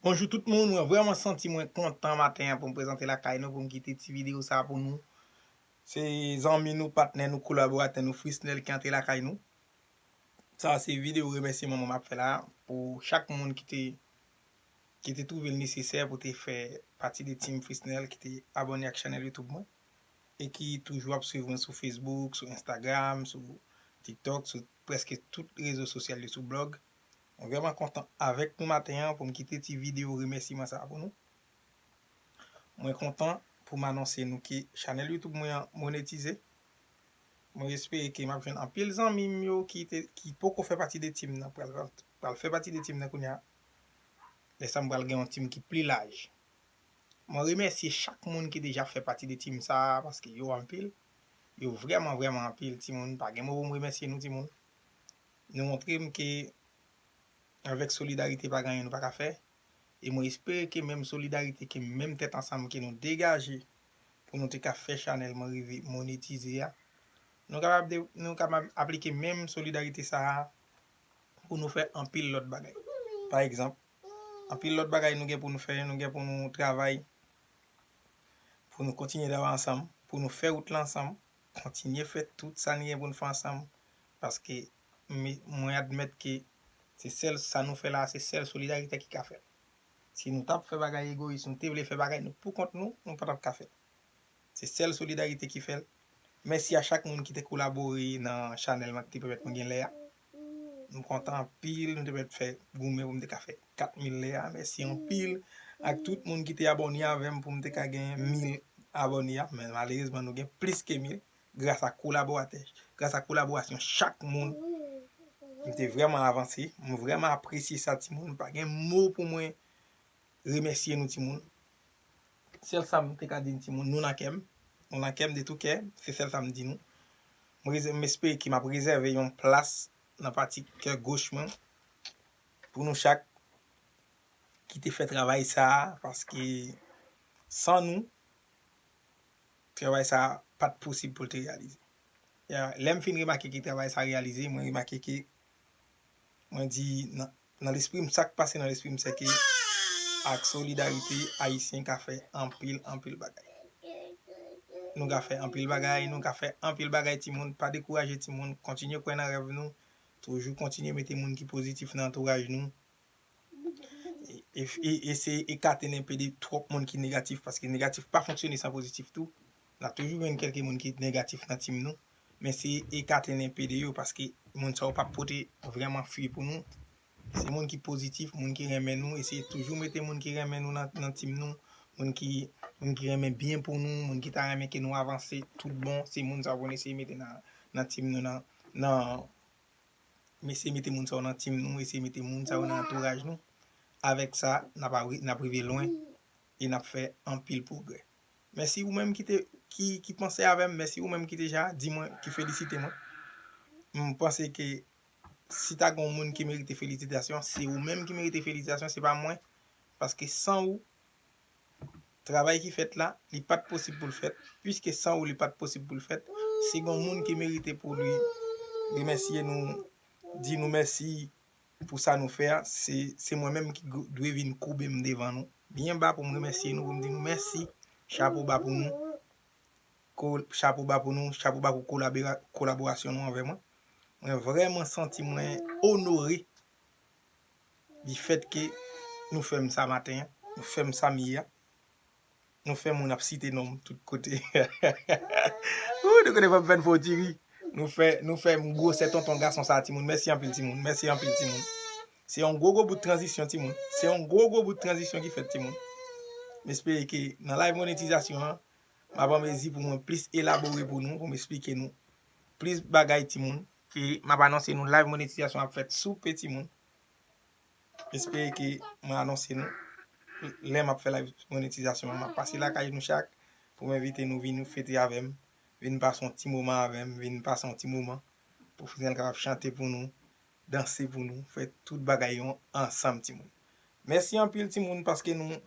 Bonjou tout moun, mwen vrèman santi mwen kontan maten an pou m prezante lakay nou pou m kite ti videyo sa pou nou. Se zanmi nou, patnè nou, kolaboratè nou Frisnel ki antre lakay nou. Sa a se videyo remèsiman mwen m ap fè la pou chak moun ki te ki te twouve l nesesè pou te fè pati de team Frisnel ki te abòne ak chanèl YouTube mwen. e ki toujou ap swiv mwen sou Facebook, sou Instagram, sou TikTok, sou prèske tout rezo sosyal yo, sou blog. Mwen vrèman kontan avèk nou maten an pou m kite ti videyo remèsiman sa a pou nou. Mwen kontan pou m anonse nou ke chanèl YouTube mwen an monetize. Mwen espere ke m ap jwenn anpil zanmi m yo ki te, ki poko fè pati de team nan pral fè pati de team nan kounya. Lè sa m pral gen yon team ki pli laj. Mwen remèsye chak moun ki deja fè pati de team sa a paske yo anpil. Yo vrèman vrèman anpil timoun pa gen mo pou m remèsye nou timoun. Nou montre m ke avèk solidarite pa gen anyen nou pa ka fè e mwen espere ke menm solidarite ke menm tèt ansanm ke nou degaje pou nou te ka fè chanèl mwen rive monetize a nou kapab nou kapab aplike menm solidarite sa a pou nou fè anpil lòt bagay. Pa egzanp, Anpil lòt bagay nou gen pou nou fè, nou gen pou nou travay, pou nou kontinye travay ansanm, pou nou fè wout lan ansanm, kontinye fè tout sa nou gen pou nou fè ansanm, paske mwen admèt ke se sèl sa nou fè la a, se sèl solidarite ki ka fè l. Si nou t ap fè bagay egoyis, nou te vle fè bagay nou pou kont nou, nou pa t ap ka fè l. Se sèl solidarite ki fè l. Mèsi a chak moun ki te kolabore nan chanèl m ak Ti Pèpèt mwen gen lè a. M kontan anpil m te mèt fè goumen pou m te ka fè 4000 lè a mèsi anpil ak tout moun ki te abòne avèm pou m te ka gen 1000 abòne a men malerezman nou gen plis ke 1000 gras ak kolaboratè gras ak kolaborasyon chak moun m te vrèman avanse m vrèman apresye sa timoun m pa gen mo pou mwen remèsye nou timoun. Sèl sa m te ka di n timoun, nou nan kè m, nou nan kè m de tou kè, se sèl sa m di nou. M rezè, m espere ke m ap rezève yon plas nan pati kè goch mwen pou nou chak ki te fè travay sa a, paske san nou, travay sa a pa t posib pou l te reyalize. Lè m fin remake ke travay sa a reyalize, mwen remake ke mwen di nan Nan lespri m sak pase nan lespri m se ke ak solidarite ayisyen ka fè anpil anpil bagay nou ka fè anpil bagay nou ka fè anpil bagay timoun pa dekouraje timoun kontinye kwè nan rèv nou toujou kontinye mete moun ki pozitif nan antouraj nou eseye ekate nenpe de twòp moun ki negatif paske negatif pa fonksyone san pozitif tou. Nap toujou jwenn kelke moun ki negatif nan team nou, men se ekate n enpe de yo paske moun sa yo pap pote vrèman fwi pou nou. Se moun ki pozitif, moun ki renmen nou, eseye toujou mete moun ki renmen nou nan team nou, moun ki moun ki renmen byen pou nou, moun ki ta renmen ke nou avanse tout bon, se moun sa yo pou nou eseye mete nan team nou nan nan eseye mete moun sa yo nan team nou, eseye mete moun sa yo nan antouraj nou. Avèk sa nap rive lwen e nap fè anpil pwogrè. Mèsi ou menm ki panse avè m, mèsi ou menm ki deja di mwen, ki felisite mwen. M panse ke si ta gen yon moun ki merite felisitasyon, se ou menm ki merite felisitasyon, se pa mwen. Paske san ou, travay ki fèt la, li pa t posib pou l fèt. Piske san ou li pa t posib pou l fèt, si gen yon moun ki merite pou li remèsye nou, di nou mèsi. pou sa nou fè a, se se mwen menm ki dwe vin koube m devan nou byen ba pou m remèsye nou, pou m di nou mèsi, chapo ba pou nou, chapo ba pou nou, chapo ba pou kolaborasyon nou anvè mwen. Mwen vrèman santi mwen onore di fèt ke nou fè m sa maten an, nou fè m sa m ye a. Nou fè moun ap site nom tout kote ooh nou konnen pap fèn fon ti ri nou fè nou fè m gwosè tonton gason sa timoun mèsi anpil timoun mèsi anpil timoun se yon gwo gwo bout tranzisyon timoun se yon gwo gwo bout tranzisyon ki fèt timoun m espere ke nan live monetizasyon an map anmezi pou mwen plis elabore pou nou pou m esplike nou plis bagay timoun e map anonse nou live monetizasyon ap fèt soupe timoun. Espere ke mwen anonse nou lè map fè live monetizasyon an. Map pase lakay nou chak pou m envite nou vin fete avè m, vin pase yon ti moman avè m, vin pase yon ti moman pou Fresnel kapab chante pou nou, danse pou nou, fè tout bagay yo ansanm timoun. Mèsi anpil timoun paske nou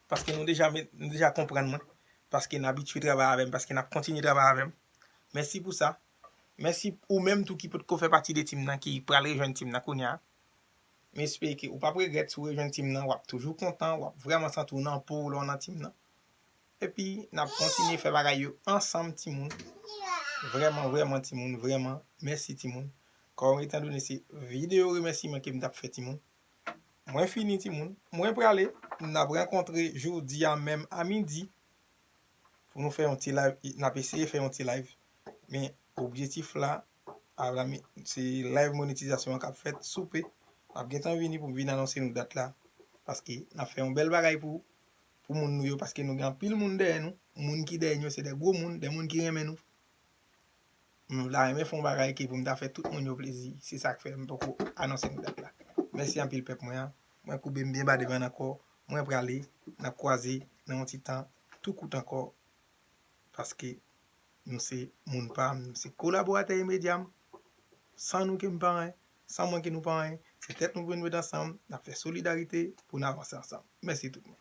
paske nou deja met nou deja konprann mwen, paske n abitye travay avè m, paske nap kontinye travay avè m. Mèsi pou sa. Mèsi ou menm tou ki potko fè pati de team nan ki pral rejwenn team nan kounya. M espere ke ou pap regrèt si w rejwenn team nan, wap toujou kontan, wap vrèman santi w nan po w lè w nan team nan. Epi nap kontinye fè bagay yo ansanm timoun. Vrèman vrèman timoun, vrèman mèsi timoun. Kòm etan done se videyo remèsiman ke m tap fè timoun. Mwen fini timoun, mwen prale, nap rankontre jodi a menm a midi. pou nou fè yon ti live e nap eseye fè yon ti live men objectif la avami se live monetizasyon an kap fèt sou pe map gentan vini pou m vin anonse nou dat la paske nap fè yon bèl bagay pou pou moun nou yo paske nou gen anpil moun dèyè nou moun ki dèyè nou yo se de gwo moun de moun ki renmen nou M ta renmen fè yon bagay ke pou m ta fè tout moun yo plezi. Se sa k fè m poko anonse nou dat la. Mèsi anpil pèp mwen an. Mwen koube m byen ba devan n ankò. Mwen prale. N ap kwaze nan yon ti tan tou kout ankò paske nou se moun pa m, nou se kolaboratè imedya m. San nou ke m pa anyen. San mwen ke nou pa anyen. Se tèt nou pou nou met ansanm. N ap fè solidarite pou n avanse ansanm. Mèsi tout moun.